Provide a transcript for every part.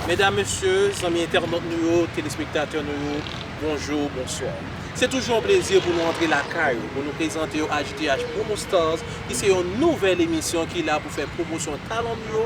Medam, mesye, zanmi entènot nou yo, telespektatè nou yo, bonjou, bonswa. Se toujou yon plezi pou nou antre lakay ou, pou nou prezante yo HDH Promo Stars ki se yon nouvèl emisyon ki la pou fè pwomosyon talan nou yo.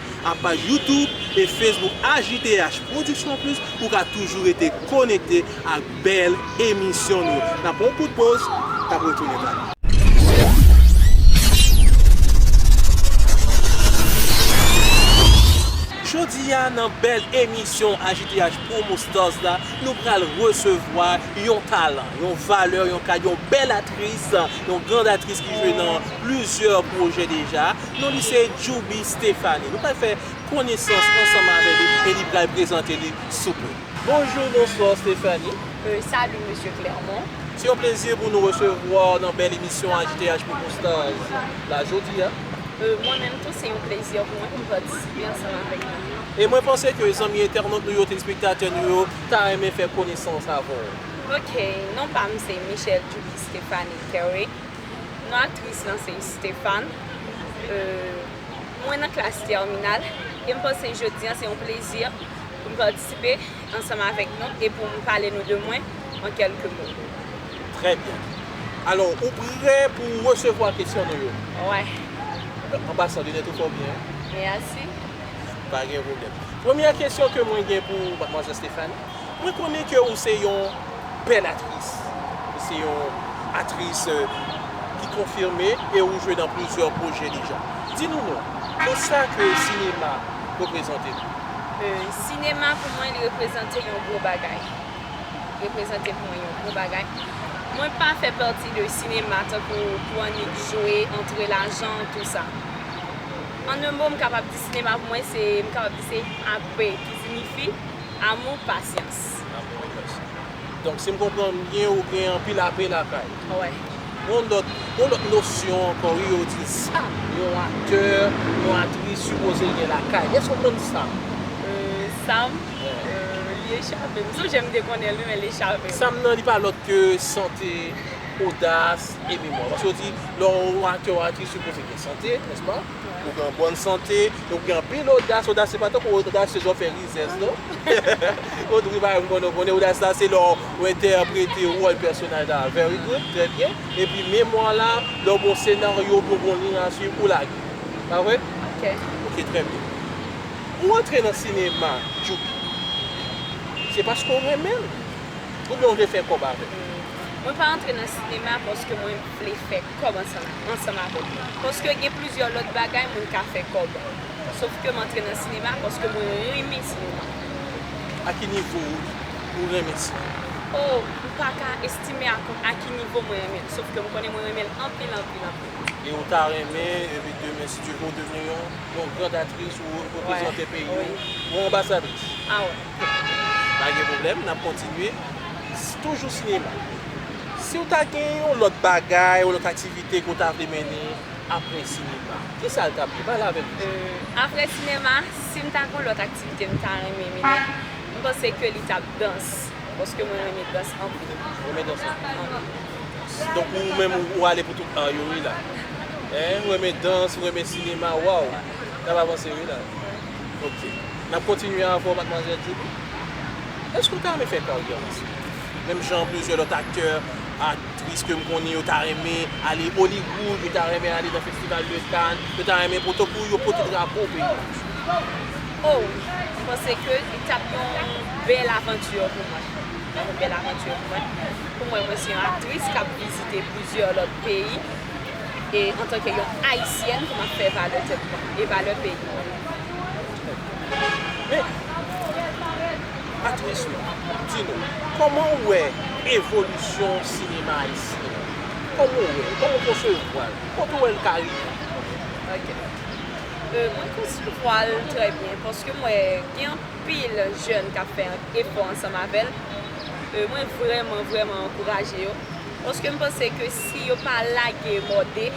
ak paj YouTube e Facebook HJTH Production Plus pou w ka toujou rete konekte ak bèl emisyon nou. N ap pran yon kout poz, n ap retounen la. Jodi a nan bèl emisyon HJTH Promo Stars la, nou pral resevwa yon talan, yon valè, yon kad, yon bèl aktris, yon grand aktris ki jwe nan plizyè pwojè deja. Non li se Djouby Stéphanie. Nou pral fè konesans ansanm avè li e li pral prezante li sou pwen. Bonjour, bonsoir Stéphanie. Euh, salut Monsieur Clermont. Se yon plezi pou nou resevwa w nan bèl emisyon AJTH Popo Stars la jodi a. Euh, mwen menm tou se yon plezi pou mwen pou m patisipe ansanm avèk nou. E mwen panse ke zanmi entènot nou yo, telespektatè nou yo ta renmen fè konesans avè w. Ok, non pa m se Michelle Djouby Stéphanie Kerwick. Non aktris lan se Estefane. Mwen nan klas tèminal e m panse jodi an se yon plezi pou m patisipe ansanm avèk nou e pou m pale nou de mwen an kèlke mo. Trè byen. Alò, ou prè pou w resevwa kesyon nou yo? Wè. An pasan, linèt ou fè w byen. Mèsi. Pa gen pwoblèm. Premyè kesyon ke mwen gen pou w, madmwazèl Estefane. Mwen konnen ke ou se yon bèl atris. Ou se yon atris ki konfime e ou jwe nan plizyè pwojè deja. Di nou non, nan sa ke sinema reprezante pou ou? Sinema pou mwen li reprezante yon gwo bagay. Li reprezante pou mwen yon gwo bagay. Mwen pa fè pati de sinema tankou pou annik jwe, antre lajan, tou sa. An un mo m kapab di sinema pou mwen se, m kapab di se AP ki zinifi. Amour pasyans. Amour et patience. Donk si m konprann byen ou gen anpil ape lakay. Wè. Gon lòt, gon lòt nosyon ankò wi yo di sa yon aktè, yon aktris sipoze gen lakay. Èske ou konn sa m. Sa m? Li echape m. M sonje m te konnen l wi men l echape m. Sa m nan li pa lòt ke sante, odas e memwa. Paske yo di lè w aktè ou aktris sipoze gen sante, nèspa? Ou gen yon bòn sante, ou gen anpil odas, odas se pa tankou odasye jan w fè rizèz non. Ou di bagay m konnen w konnen, odas la se lè w entèprete wòl pèsonaj la very good, trè byen, epi memwa w la, lè w gen yon senaryo oubyen w gen yon liy a swiv, ou lage. Pa vre? Ok. Ok, trè byen. Ou rantre nan sinema Djoupi, se paske w renmen l? Oubyen w vle fè kòb avè l? Mwen pa rantre nan sinema paske mwen vle fè kòb ansanm avè m. Paske gen plizyè lòt bagay moun ka fè kòb. Sof ke m antre nan sinema paske mwen renmen sinema. A ki nivo ou renmen sinema? O, m pa ka estime ak ou a ki nivo mwen renmen l. Sof ke m konnen mwen renmen l anpil, anpil, anpil. E ou ta renmen, epi demen si Dye vle, ou devni yon grand aktris, ou reprezante peyi ou, yon anbasadris? A wè. Pa gen pwoblèm, n ap kontinye. Toujou sinema. Si w ta gen yon lòt bagay ou lòt aktivite ke w ta vle mennen apre sinema, ki sa l t ap ye? Pale avèk nou. Apre sinema, si m ta gen yon lòt aktivite m ta renmen mennen, m panse ke li t ap dans, paske mwen renmen dans anpil. Ou renmen dans anpil? Anpil. Donk ou menm ou ale pou tout ar yo wi la. Hein, ou renmen dans, ou renmen sinema, waw! N ap avanse wi la. Ok. N ap kontinye avè w Madmwazèl Julie. Èske w ta renmen fè karyè w nan sinema? Menm jan plizyè lòt aktè, aktris ke m konnen yo ta renmen ale Hollywood, yo ta renmen ale nan Festival de Cannes, yo ta renmen poto pou yo pote drapo peyi a sou yo. O wi, m panse ke li t ap yon bèl avanture pou mwen. Li t ap yon bèl avanture pou mwen. Pou mwen, mwen se yon aktris k ap vizite plizyè lòt peyi e antanke yon Ayisyèn pou m ap fè valè tèt mwen e valè peyi mwen. Men, Patrice Louis, di nou, kòman ou wè evolisyon sinema ayisyen an? Kòman ou wè l? Kòman ou konsevwa l? Kote ou wè l ka rive? Ok. Mwen konsevwa l trè byen paske m wè gen anpil jèn k ap fè efò ansanm avè l. Mwen vrèman, vrèman ankouraje yo paske m panse ke si yo pa lage mòde.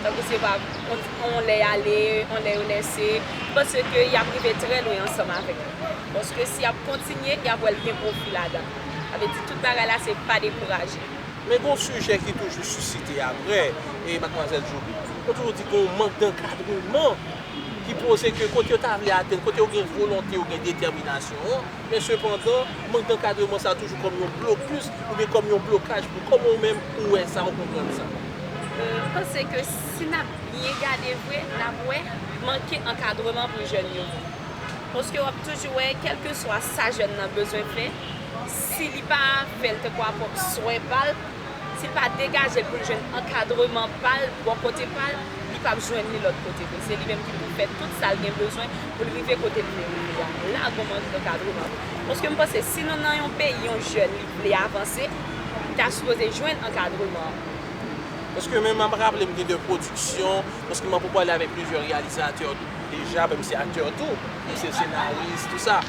Tankou se pa yon lè y ale, yon lè yo lèse, m panse ke y ap rive trè lwen ansanm avèk li. Paske si y ap kontinye, y ap wè l gen pwofi ladan l. Sa vle di tout bagay la se pa dekouraje. Men gen yon sijè ki toujou sisite apre, e Madmwazèl Joly. Yo toujou di gen yon mank dankadreman ki poze ke kote yo ta vle atenn, kote yo gen volonte, yo gen detèminasyon an, men sepandan, mank dankadreman sa a toujou kòm yon blokis oubyen kòm yon blokaj pou kòman ou menm ou wè sa, ou konprann sa. M panse ke si n ap byen gade vre, n ap wè manke ankadreman pou jèn yo. Paske w ap toujou wè kèlkeswa sa jèn nan bezwen fè, si li pa fè l tankou a pwòp swen pa l, si l pa degaje l pou l jwenn ankadreman pa l bò kote pa l, li p ap jwenn li lòt kote vre. Se li menm ki pou fè tout sa l gen bezwen pou l rive kote l vle rive a. La gon mank ankadreman. Paske m panse si nou nan yon peyi, yon jèn li. vle avanse ta sipoze jwenn ankadreman an. Paske men map raplem gen de pwodiksyon, paske mwen pou pale avèk plizyè reyalizatè deja, menm se aktè tou, menm se senaris tou sa,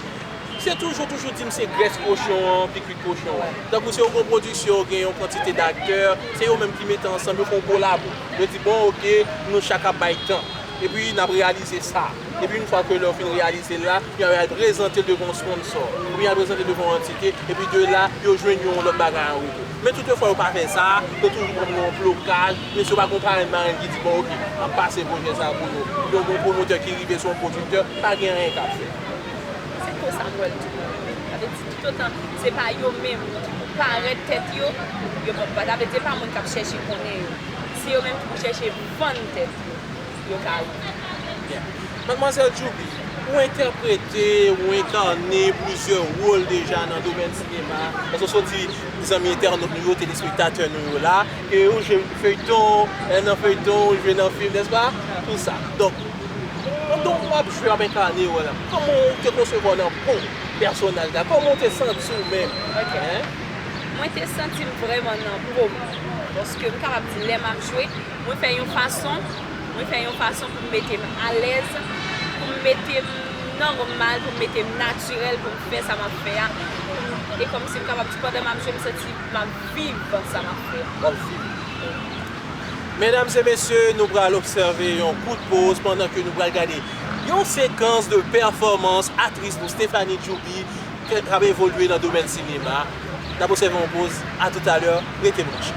se toujou toujou dim se grès kochon an ki kwit kochon an. Tankou se yon gwo pwodiksyon yo gen yon kantite daktè, se yo menm ki mete ansanm yo fè yon kolabo. Yo di bon ok nou chak ap bay tan, epi nap reyalize sa, epi yn fwa ke lè yo fin reyalize l la, Pou y al prezante l devan yon sponsò, oubyen y al prezante l devan yon antite, epi de la, yo jwenn yon lòt bagay an retou. Men tout yon fwa yo pa fè sa a, yo toujou pran pou yon blokaj, oubyen si yo pa gen yon parenn marenn ki di bon ok, m ap pase pwojè sa a pou nou, oubyen gen yon pwomotè ki rive sou yon pwodiktè, pa gen anyen k ap fèt. Se konsa m wè l toujou rive. Sa vle di toutotan se pa yo menm ki pou parèt tèt yo, yo p ap, sa vle di se pa moun k ap chèche konnen yo. Se yo menm ki pou chèche vann tèt yo. yo ka ri. Byen. Madmwazèl Djouby, ou entèprete, ou enkarne plizyè wol deja nan domèn sinema a, paske w sot di zanmi entènot nou yo, telespektatè nou yo la, ke ou jwe feyton, lè nan feyton, ou jwe nan fim, nèspa? Tou sa. Donk, pandan w ap jwe, w ap enkarne wòl la, kòman w te konsevwa w nan po pèsonaj la? Kòman w te santi w menm? Ok. Mwen te santi m vrèman nan po m, paske m kapab di lè m ap jwe, Mwen fè yon fason, mwen fè yon fason pou m mete m alèz, pou m mete m nòmal, pou m mete m natirèl, pou m fè sa m ap fè a, pou m, e kòmsi m kapab di pandan m ap jwe m santi m ap viv sa m ap fè a. W ap viv li. Medam e mesye, nou pral obsève yon kout poz pandan ke nou pral gade yon sekans de pèfòmans atris nou Stéphanie Djouby. Kèk k ap evolye nan domèn sinema a, n ap obsève yon poz, a tout alè, rete branche.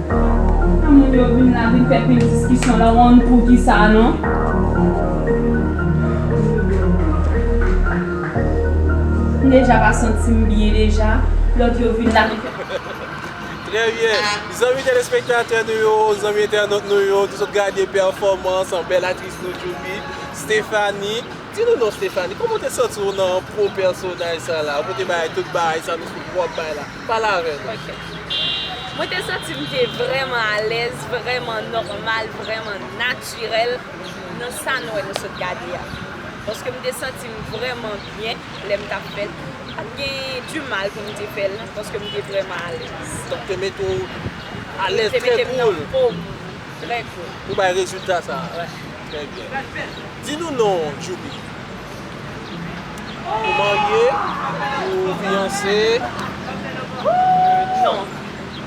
Pou moun yo vin la vin fè pil diskisyon la one pou kisa non. M deja pa santim byen deja lòt yo vin la vin fè Trè byen, zanmi telespektatè nou yo, zanmi entènot nou yo, nou sot gade pèfòmans bèl aktris nou Djouby, Stéphanie, di nou non Stéphanie, kòman w te santi w nan po pèsonaj sa la, ou te bay tout bagay sa nou sot wè w ap bay la? Pale avè nou. Ok. Mwen te santi m te vrèman alèz, vrèman nòmal, vrèman natirèl nan sa nou wè nou sot gade a. Paske m te santi m vrèman byen lè m t ap fè l. Pa t gen di mal pou m te fè l paske m te vrèman alèz. Donk te mete w alèz, trè koul. Te mete m nan fo m, trè koul. Pou bay rezilta sa a. Wè. Trè byen. Di nou non w Djoupi. Ou marye? Ou fiyanse? Non.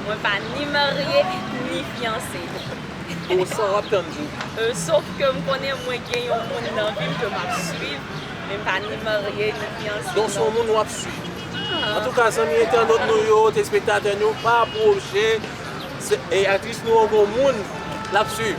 Mwen pa ni marye, ni fiyanse. Bon san w ap tann Djoupi? Sof ke m konnen mwen gen yon moun nan vi m ke m ap swiv. Men m pa ni marye, ni fiyanse. Don s on moun w ap swiv. Antouka zanmi entènot nou yo, telespektatè nou, pa pwoche aktris nou an gon moun l ap swiv.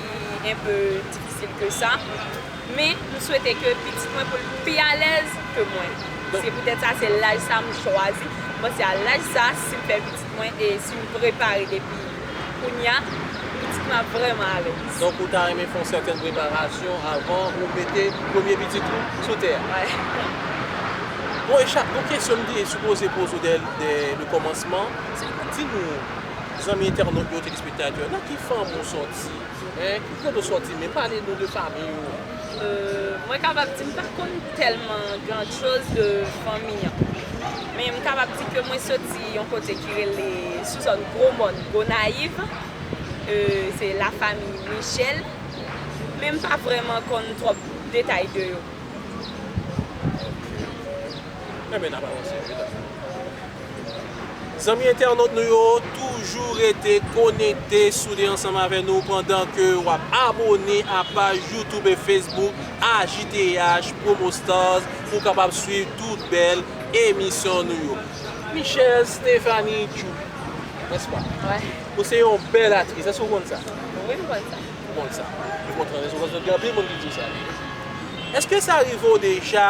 li enpe difisil ke sa, men m swete ke pitit mwen pou l pi alèz ke mwen. Se poutèt sa se laj sa m chwazi, m panse a laj sa si m fè pitit mwen e si m prepare depi kounya, pitit mwen ap vrèman alèz. Donk ou ta renmen fè yon sèten preparasyon avan ou mete premye pitit ou sou tè a? Wè. Bon e chak, yon kesyon m te sipoze poze w dè le kòmansman, se pou di nou Zanmi entènot yo, telespektatè, nan ki fanmi ou sòti? Hein? Ki kote ou sòti menm? Pale nou de fanmi ou. Euh, mwen kapab di m pa konn tèlman grand chose de fanmi an. Men m kapab di ke mwen sòti yon kote ki rele sou zòn Gwo Mòn, Gonayiv. Euh, se la fami Michel. Men m pa vrèman konn twòp detay de yo. Ok. Enben n ap avanse wi, dam. Zanmi entènot nou yo toujou rete konekte sou 2 ansanm avè nou pandan ke wap abone a paj youtube e facebook AJTH promo stars pou w kapab swiv tout bèl emisyon nou yo. Michelle Stéphanie Djouly n'est-ce pas? Ou se yon bèl aktris èske ou konn sa? Wi m konn sa. Ou konn sa. M kontan èske sa rive w deja.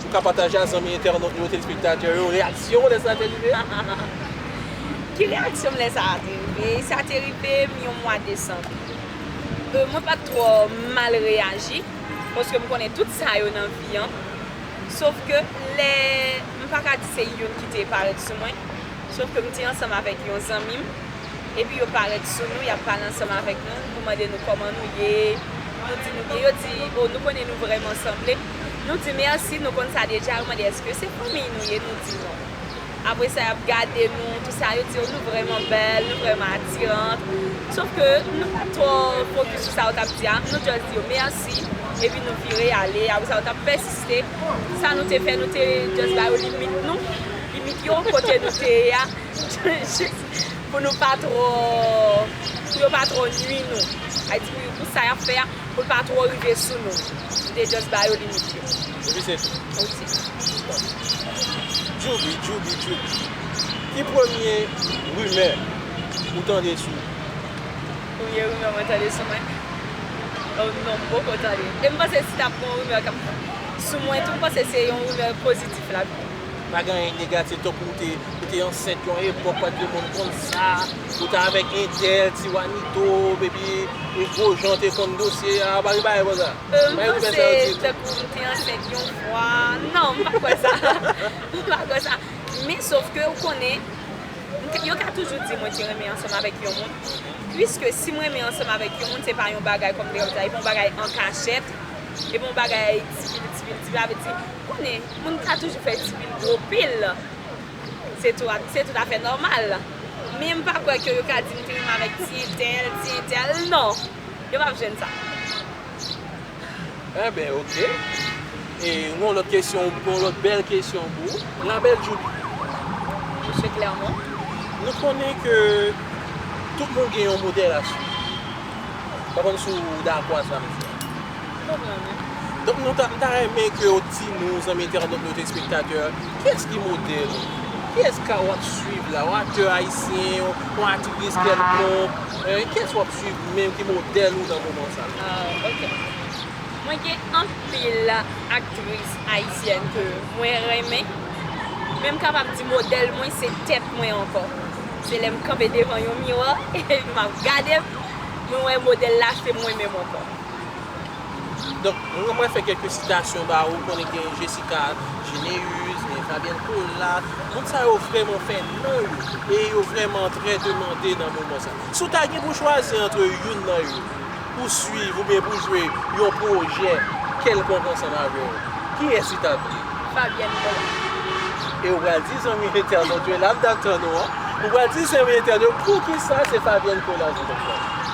Ou ka pataje a zanmi entènot nou yo telespektatè yo reyaksyon w lè sa te rive a? Ki reyaksyon m lè sa te rive? Sa te rive m yon mwa desanm. Mwen pa t twò mal reyaji paske m konnen tout sa yo nan vi an sof ke lè m pa ka di se youn ki te parèt sou mwen sof ke m te ansanm avèk yon zanmi m epi yo parèt sou nou y ap pale ansanm avèk nou pou mande nou kòman nou ye nou di nou byen yo di o nou konnen nou vrèman sanble. Nou di mèsi, nou konn sa deja, yo mande eske se fanmiy nou ye, nou di non. Apre sa yap gade nou, tout sa, yo di yo nou vrèman bèl, nou vrèman atirant. Sof ke nou pa twò fokis sou sa yo tap di a, nou just di yo mèsi, epi nou vire ale, apre sa yo tap pèsiste, sa nou te fè nou te just ba yo limit nou, limit yo kote nou te ye a, jis pou nou pa twò, pou yo pa twò nwi nou, pou sa yap fè a. Pou l pa twò rive sou nou. M te just ba yo limit yo. Epi se tou? Ou ti. Djouby, Djouby, Djouby. Ki premye rimè ou tande sou ou? Premye rimè mwen tande sou mwen? Oh non, m poko tande. E m panse si t ap gen yon rimè k ap sou mwen tou, m panse se yon rimè pozitif l ap gen. Pa gen anyen negatif tankou ou te ansent yon epòk paske moun konn sa. Ou ta avèk entèl, ti wanito, epi yon gwo jan w te konn dosye a, ou pa gen bagay konsa? M panse tankou m te ansent yon fwa, non m pa kwè sa, m pa kwè sa. Men sof ke ou konnen, yo ka toujou di mwen te renmen ansanm avèk yon moun, puiske si m renmen ansanm avèk yon moun se pa yon bagay kòm m te kapab di la, e pa yon bagay an kachèt, e pa yon bagay ti pil ti pil ti pil, sa vle di, ou konnen, moun ka toujou fè ti pil gwo pil. Se tout afè nòmal. Men m pa kwè ke yo ka di m te menm avèk ti entèl, ti entèl. Non! Yo p ap jwenn sa. Enben ok. E m gen yon lòt kesyon, yon lòt bèl kesyon pou ou. La belle Djoulie. Mesye Clermont. Nou konnen ke tout moun gen yon modèl a suiv. M pa konn si w dakò ak sa m di a. Donk nou ta, m ta renmen ke w di nou, zanmi entènot nou, telespektatè, kiyès ki modèl ou? Kiyès ka w ap swiv la? Yon aktè ayisyen, yon atris kèlkonk, kiyès w ap swiv menm ki modèl ou nan moman sa la? Ah ok. Mwen gen anpil aktris ayisyèn ke mwen renmen, men m kapab di modèl mwen se tèt mwen ankò. Se lè m kanpe devan yon miwa e m ap gade m, mwen wè modèl la se mwen menm ankò. Donk, mwen mwen fè kèlke sitasyon ba ou, konnen gen Jessica Généus, gen Fabienne Colas, moun sa yo vrèman fè non yo, e yo vrèman trè demande nan moman sa. Si w ta gen pou chwazi antre youn nan yo, pou swiv oubyen pou jwe yon pwojè kèlkonk ansanm avè yo, kiyès li t ap ye? Fabienne Colas. E ou pral di zanmi entènot yo, e la m t ap tann ou an, ou pral di zanmi entènot yo poukisa se Fabienne Colas ou t ap chwazi?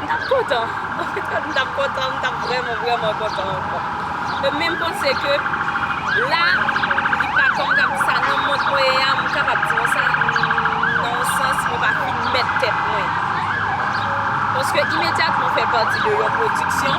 M tap kontan. M tap kontan, m tap vrèman vrèman kontan ankò. E menm panse ke la li pa kòm kap di sa nan mond mwen ye a m kapab di nou sa nan yon sans mwen pa fin mèt tèt mwen. Paske imedyatman ou fè pati de yon pwodiksyon.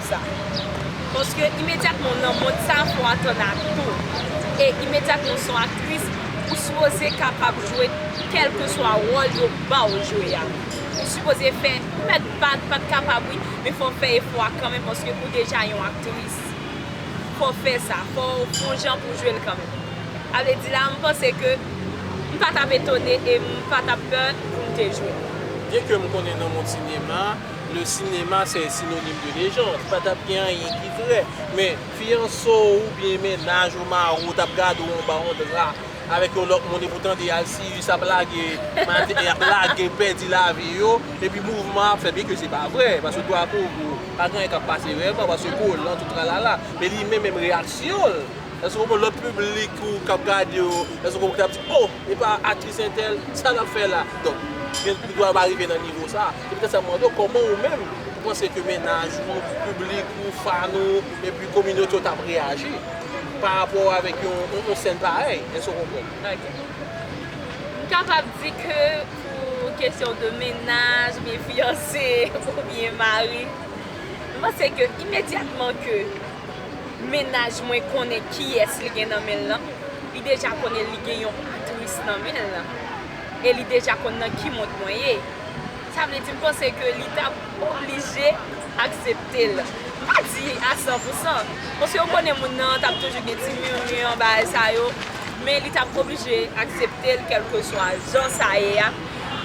mond sa. Paske imedyatman w nan mond sa fò w atann ak tou. E imedyatman w se yon aktris, ou sipoze kapab jwe kèlkeswa wòl yo ba w jwe a. Ou sipoze fè, ou mèt pa pa t kapab wi, men fò w fè efò a kanmenm paske ou deja yon aktris. Fò w fè sa, fò w gon jan pou w jwe l kanmenm. Sa vle di la m panse ke m pa t ap etone e m pa t ap pè pou m te jwe. Byenke m konnen nan mond sinema. Le cinéma se synonyme de légende pa tap gen anyen ki vrè men fiyanse w ou byen mennaj ou mari w tap gade w anba yon dra avèk yon lòt moun epoutan 2 alsiyis ap lage maten yap lage pèdi lavi yo epi mouvman ap fèt byen ke se pa vrè paske gwa gogo pa gen anyen kap pase vrèman paske kolan tout tralala men li menm menm reyaksyon l èske w konprann lòt piblik ou kap gade w èske w konprann li tap di oh Epa aktris entèl, sa lap fè la? Donk, gen li dwa pa rive nan nivo sa. Se poutèt sa m mande w kòman ou menm ou panse ke mennaj ou, piblik ou, fan ou, epi kominote w tap reyaji pa rapò avèk yon yon sèn parèy? Èske w konprann? Ok. M kapab di ke pou kesyon de mennaj oubyen fiyanse oubyen mari, m panse ke imedyatman ke. Mennaj mwen konnen kiyès li gen nan men l lan, li deja konnen li gen yon aktris nan men l lan, e li deja konn nan ki mond mwen ye. Sa vle di m panse ke li t ap oblije aksepte l. M pa di a san pou san, paske ou konnen moun nan t ap toujou gen ti murmure bagay sa yo, men li t ap oblije aksepte l kèlkeswa jan sa ye a.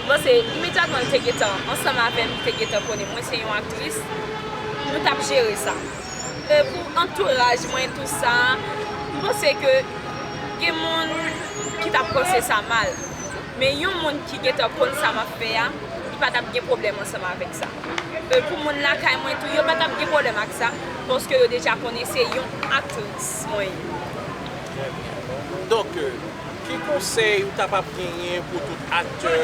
M panse imedyatman li te gentan ansanm avè m, li te gentan konnen mwen se yon aktris, nou t ap jere sa. Pou antouraj mwen tout sa, m panse ke gen moun ki tap panse sa mal. Men yon moun ki gentan konn sa map fè a, li pa tap gen pwoblèm ansanm avèk sa. Pou moun lakay mwen tou, yo pa tap gen pwoblèm ak sa, paske yo deja konnen se yon aktris mwen ye. Trè byen. Donk, ki konsèy ou ta pap genyen pou tout aktè,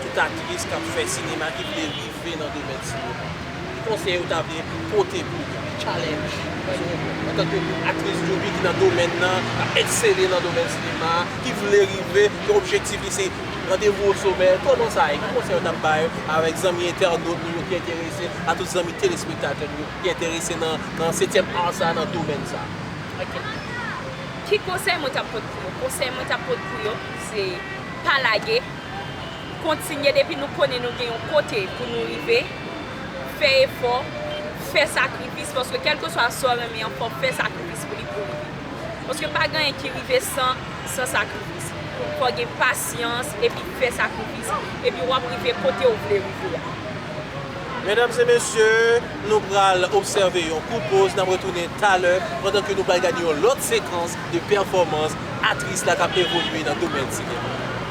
tout aktris kap fè sinema ki vle viv Ve nan domèn sinema. Ki konsèy ou ta vle pote pou yo? Ki challenge sou ou antanke yon aktris doubi ki nan domèn nan, ki ap eksele nan domèn sinema a, ki vle rive, ki objektif li se randevou o somè, kòman sa ye? Ki konsèy ou ta bay avèk zanmi entènot nou yo ki enterese, a tout zanmi telespektatè nou yo ki enterese nan setyèm art sa, nan domèn sa? Ok. Ki konsèy mwen ta pot pou yo? Konsèy mwen ta pot pou yo se pa lage. Kontinye depi nou konnen nou gen yon kote pou nou rive, fè efò, fè sakrifis paske kèlkeswa sa w renmen an fò w fè sakrifis pou li pou w rive. Paske pa gen anyen ki rive san san sakrifis. Fò w gen pasyans epi fè sakrifis epi w ap rive kote w vle rive a. Medam e mesye, nou pral obsève yon kout poz, n ap retounen talè pandan ke nou pral gade yon lòt sekans de pèfòmans atris la k ap evolye nan domèn sinema.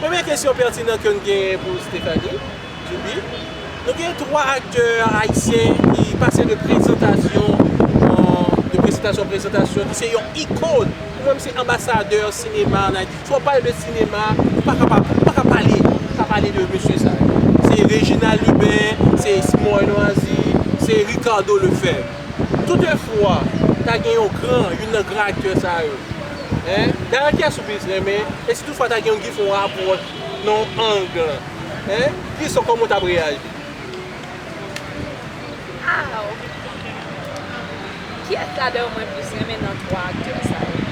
Premye kesyon pètinan ke n genyen pou Stephanie Douby, nou gen 3 aktè ayisyen ki pase de prezantasyon de presentasyon an prezentasyon ki se yon ikon, ou menm se anbasadè sinema an Ayiti, fò w pale de sinema ou pa ka pa ou pa ka pale ou pa pale de mesye sa yo, se Reginald Lubin, se Simon Renoisy, se Ricardo Lefèvre. Toutefwa, ta gen yon gran, youn nan gran aktè sa yo. Hein? Dayè kiyès ou plis renmen? E si toutfwa ta gen yon ki fè yon apwòch nan yon ang lan? Hein? Kiyès ou kòman ou tap reyaji? Aww. Kiyès ladan yo mwen plis renmen nan 3 aktè sa yo?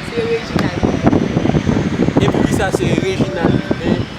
Se Reginald Hubert. E poukisa se Reginald Hubert?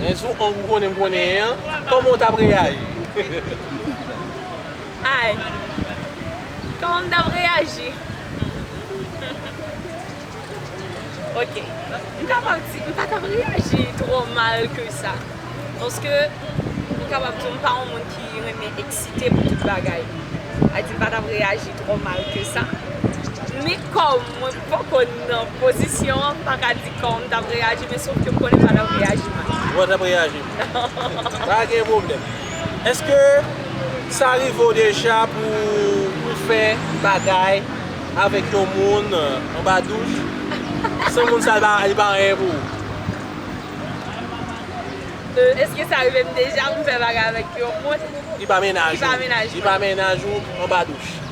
Hein sou ank ou konnen m konnen an Koman ou tap reyaji. Anh Koman m tap reyaji Humm Ok m kapab di m pa tap reyaji twò mal ke sa Paske m kapab di w m pa yon moun ki renmen eksite pou tout bagay Sa vle di m pa tap reyaji twò mal ke sa Men kòm mwen Fok konn nan pozisyon an pa ka di kòm tap reyaji men sof ke m konnen pa tap reyaji mal. Kouman tap reyaji? Pa gen pwoblèm. Eske sa rive w deja pou ou fè bagay avèk yon moun anba douch san moun sa li pa anyen pou ou? Eske sa rive m deja pou m fè bagay avèk yon moun ki pa mennaj ou anba douch?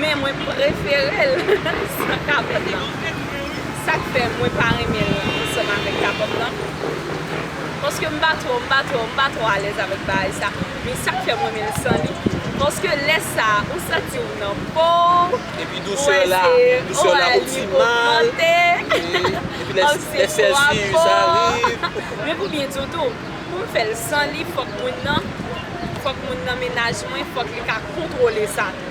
Men mwen preferel san kapòt lan. Sak fè mwen pa renmenl ansanm avèk kapòt lan. Paske m pa twò, m pa twò, m pa twò alèz avèk bagay sa. Men sak fè m renmen l san li. Paske lè sa ou santi w nan po w. Epi dousè la, dousè la optimal. Epi lè sèlsiyis ariv. Men pou byen di w tou, pou m fèl san li fòk moun nan, fòk moun nan menaj mwen fòk li ka kontwole sa tou.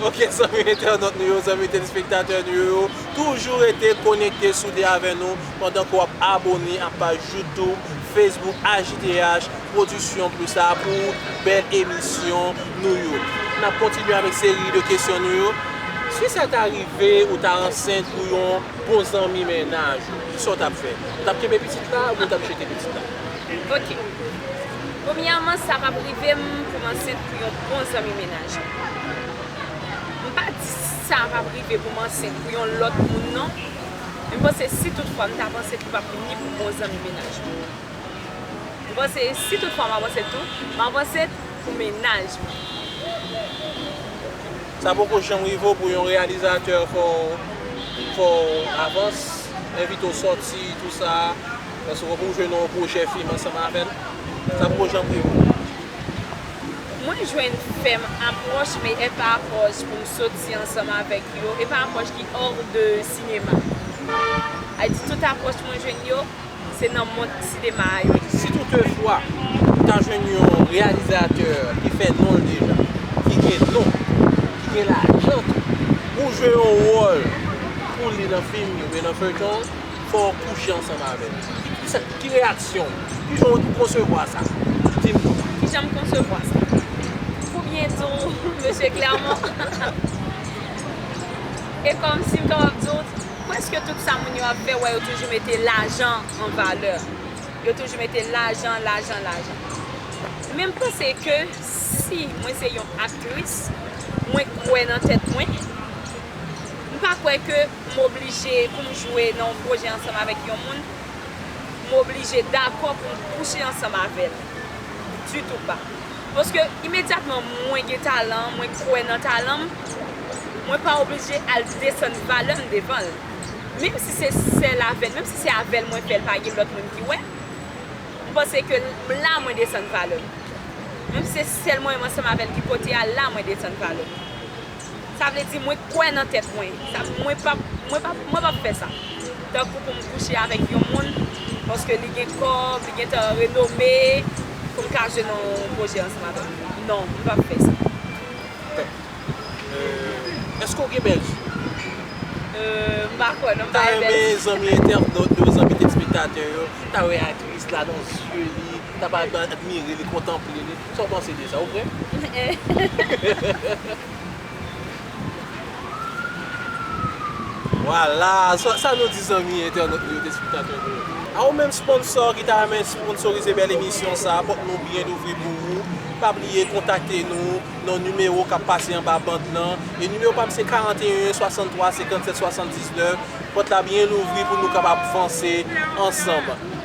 Ok zanmi entènot nou yo, zanmi telespektatè nou yo, toujou rete konekte soude avè nou pandan ke wap abone ak paj youtube, facebook HDH production plus la pou bèl emisyon nou yo. Nap kontinye avèk seri de kesyon nou yo. Si sa ta rive ou ta ansent pou yon bon zanmi mennaj ou, kisa ou tap fè? Ou tap kenbe pitit la oubyen ou tap jete pitit la? Ok. Premyèman sa pap rive m pou m ansent pou yon bon zanmi mennaj m. M pa di sa pap rive pou m ansent pou yon lòt moun non. Men m panse si tout fwa m tap ansent li pap ni pou bon zanmi mennaj m. M panse si tout fwa map ansent tou, map ansent pou mennaj mwen. Sa poko janm rive w pou yon reyalizatè fè w avans, envite w sòti tou sa. Paske wap ou jwenn yon projè film ansanm avèl sa poko janm rive ou. Mwen jwenn fèm apwòch me epa apwòch poum soti ansanm avèk yo epa apwòch ki hors de sinema a di tout apwòch mwen jwenn yo se nan mond sinema a yo ye. Si tout de fwa ou ta jwenn yon reyalizatè ki fè nonl deja ki gen non ki gen lajan tou pou jwe yon wòl pou li nan film li oubyen nan feyton. fò w kouche ansanm avè l. Kisa, ki reyaksyon w? Ki jan w konsevwa sa? Di m non. Ki jan m konsevwa sa? Pou byen di w, Mesye Clermont, e kòm si m kapab di w, prèske tout sa moun yo ap fè, wè yo toujou mete lajan an valè. Yo toujou mete lajan, lajan, lajan. Men m panse ke si mwen se yon aktris, mwen kwè nan tèt mwen, m pa kwè ke. M oblije pou m jwe nan yon pwojè ansanm avèk yon moun, m oblije dakò pou m kouche ansanm avè l. Ditou pa. Paske imedyatman mwen gen talan, mwen kwè nan talan m, mwen pa oblije al desann valè m devan l. Menm si se sèl avè l, menm si se avè l mwen fè l pa gen lòt moun ki wè, m panse ke m la mwen desann valè m. Menm si se sèl mwen menm ansanm avè l ki pote a, la mwen desann valè m. Sa vle di mwen kwè nan tèt mwen. Mwen pap mwen pap mwen pap fè sa. Tankou pou m kouche avèk yon moun paske li gen kòb, li gentan renome pou m ka jwe nan yon pwojè ansanm avè l. Non, m pap fè sa. Eske w gen bèlfi? M pa kwè non m pa gen bèlfi. M ta renmen zanmi entènot yo, zanmi tèlspektatè yo ta wè aktris la nan zye li, ta pa admire li, kontanple li. Sa w panse de sa? Ou prè? Vwala! Sa nou di zanmi entènèt nou yo, telespktatè nou yo? A ou menm sponsò ki ta renmen sponsorize bèl emisyon sa, pòt nou byen louvri pou ou. Pa bliye kontakte nou nan nimewo k ap pase anba band lan. E nimewo pa m se 41 63 57 79. Pòt la byen louvri pou nou kapab vanse ansanm.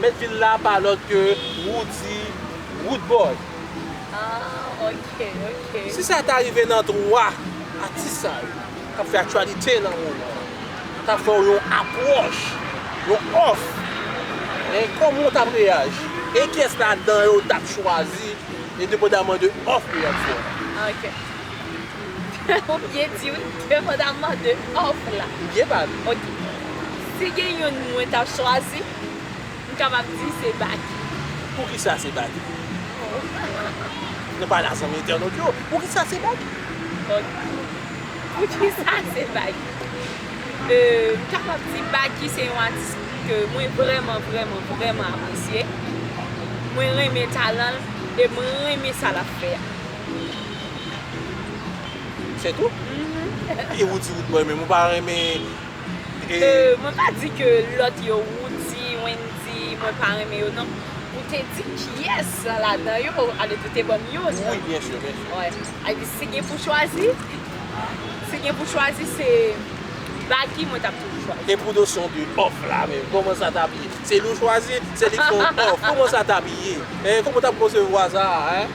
Mèt vil la pa lòt ke Roody Roodboy. Ah ok ok. Si sa ta rive nan 3 atis sa yo kap fè aktyalite nan moman an ta fè w yon apwòch, yon òf, hein, kòman w tap reyaji? E kiyès ladan yo ou tap chwazi endepandaman de òf ke yap fè la? Ok. Ou byen di wi, endepandaman de òf la. Ou byen pale. Ok. Si gen youn mwen tap chwazi. M kapab di se Baky. Poukisa se Baky? Nou pa la zanmi entènot yo. Poukisa se Baky? Poukisa se Baky? M kapab di Baky se yon atis ke mwen vrèman vrèman vrèman apresye. Mwen renmen talan l e m renmen sa l ap fè a. Se tou? Ou di ou t renmen, ou pa renmen? Euh mwen pa di ke lòt yo Roody, Wendy mwen pa renmen yo non ou te di kiyès ladan yo alòs ou te banm youn wi byen sûr byen sûr wi alòs si gen pou chwazi si gen pou chwazi se Baky mwen tap toujou chwazi e pou nosyon de òf la menm kòman sa tap ye se nou chwazi se li fon òf kòman sa tap ye hein kòman ou tap konsevwa sa hein.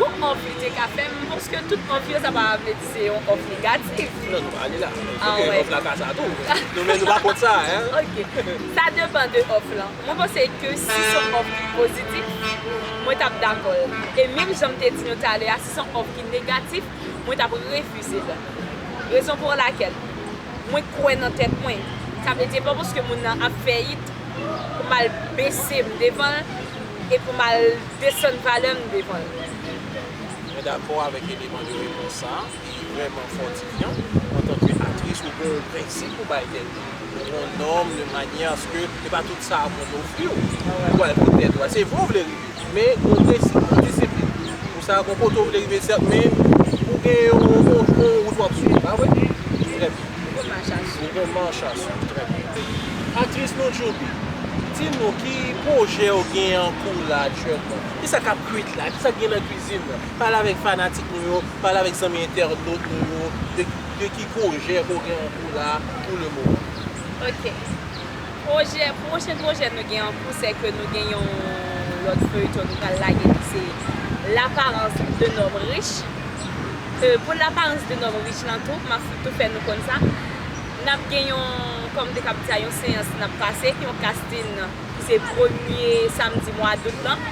Gon òf li te ka fè m paske tout òf yo sa pa vle di se yon òf negatif. Non nou pa ale la. Ah wè. Ok òf la ka sa tou. Nou menm nou pa kont sa hein. Ok. Sa depan de òf lan. Mwen panse ke si son òf ki pozitif mwen tap dakò l. E menm jan m te di nou talè a si son òf ki negatif mwen tap refize l. Rezon pou lakel mwen kwè nan tèt mwen. Sa vle di e pa paske moun nan ap fèyit pou m al bese m devan l. E pou m al desann valè m devan l. Mwen dakò avèk eleman de repons sa a, li vrèman fòtifyan. Antanke aktris ou gon prensip ou bay tèt ou, ou gon nòm de manyè aske e pa tout sa moun yo ofri w, ou pral fout tèt ou a. Se vre ou vle rive, men gon prensip ou gon disiplin pou sa, gon kote ou vle rive sèt men ou gen yon wout wap swiv pa vre? Trè byen. Nouvo march a swiv. Nouvo march a swiv, trè byen. Aktris nou Djouby, di nou ki pwojè ou gen an kou la aktyèlman? Ki sa k ap kwit la? Ki sa k gen nan kwizin nan? Pale avèk fanatik nou yo, pale avèk zanmi entènot nou yo de ki pwojè ke w gen an kou la pou le moman. Ok. Pwojè, pwochen pwojè nou gen an kou sè ke nou gen yon lòt feuilleton nou pral lage ki se L'apparence d'un homme riche ke pou L'apparence d'un homme riche lan tou, map tou fè nou konn sa, nap gen yon, kòm te kab di sa, yon seyans nap pase, yon casting ki se premye samdi mwa dout lan,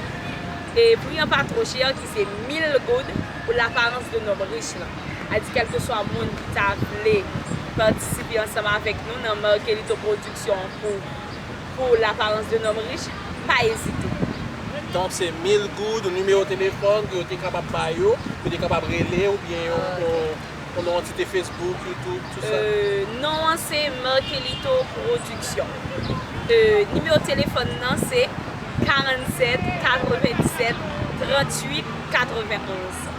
e pri an pa two chè ki se 1000 goud pou L'apparence d'un homme riche lan. a di kèlkeswa moun ki ta vle patisipe ansanm avèk nou nan Markelito Production pou pou L'apparence d'un homme riche, pa ezite. Donk se 1000 goud ou nimewo telefòn ke yo te kapab ba yo, ke yo te kapab rele ou byen yon yon yon antite Facebook, YouTube, tout sa? Non an se Markelito Production. Nimewo telefòn nan se 47 97 38 91.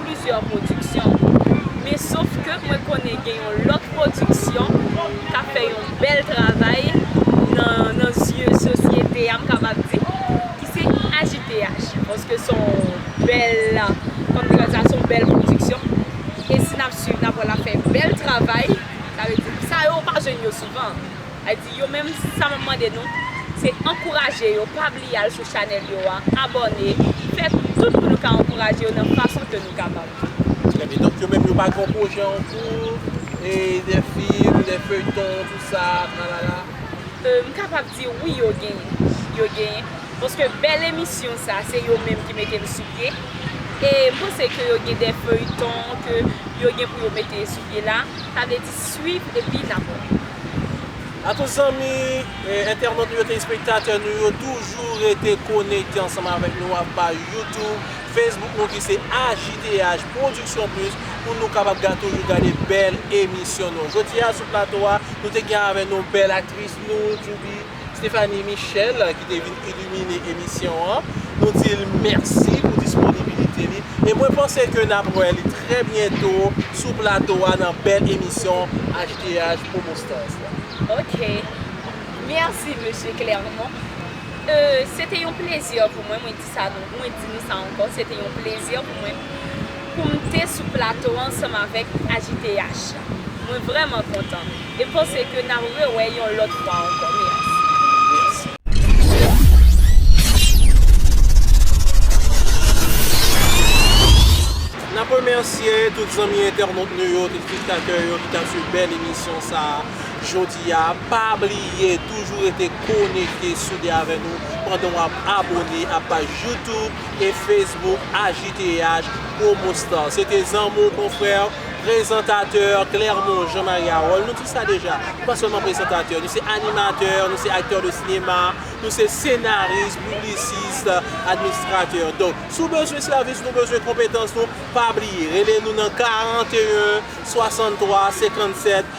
plizyè pwodiksyon men sof ke mwen konnen gen yon lòt pwodiksyon kap fè yon bèl travay nan zye sosyete a m kapab di ki se AJTH paske son bèl kòm te ka di a son bèl pwodiksyon e si nap swiv nap wè lap fè bèl travay sa vle di sa yo ou pa jwenn yo souvan. A di yo menm sa map mande nou se ankouraje yo pa bliye al sou chanèl yo a abòne fè tout pou nou ka ankouraje yo nan fason ke nou kapab. Trè byen donk yo menm yo pa gen yon pwojè an kou e de film de feuilleton tout sa tralala. M kapab di wi yo genyen yo genyen paske bèl emisyon sa se yo menm ki mete l sou pye e m panse ke yo gen de feuilleton ke yo gen pou yo mete sou pye la sa vle di swiv epi nap wè. A tout zanmi, entènot nou yo, telespektatè nou yo toujou rete konekte ansanm avèk nou a pa YouTube, Facebook nou ki se AJDH Production Plus pou nou kapab ga toujou gade bèl emisyon nou. Jodi a sou plato a nou te gen avè nou bèl aktris nou Djouby. Stéphanie Michel ki te vin illumine emisyon an, nou di l mèsi pou disponibilite li e mwen panse ke n ap wè li trè byento sou plato a nan bèl emisyon HDH Promo Stars la. Ok. Mèsi Mesye Clermont. Se te yon plezi pou mwen. Sa nou mwen di nou sa ankò se te yon plezi pou mwen pou m te sou plato ansanm avèk AJTH la. Mwen vrèman kontan e m panse ke n a rewè yon lòt fwa ankò. Mèsi. N ap remèsye tout zanmi entènot nou yo, tout spektatè yo ki t ap swiv bèl emisyon sa a. Jodi a, pa bliye toujou rete konekte soude avè nou pandan wap abone a paj YouTube e Facebook AJTH Promo Star. Se te zanmi w, konfrè, prezantatè Clermont Jean Marie Harold. Nou di sa deja, nou pa sèlman prezantatè, nou se animatè, nou se aktè de sinema, nou se senaris, piblisist, administratè. Donk, si w bezwen sèvis nou, bezwen konpetans nou, pa bliye rele nou nan 41 63 57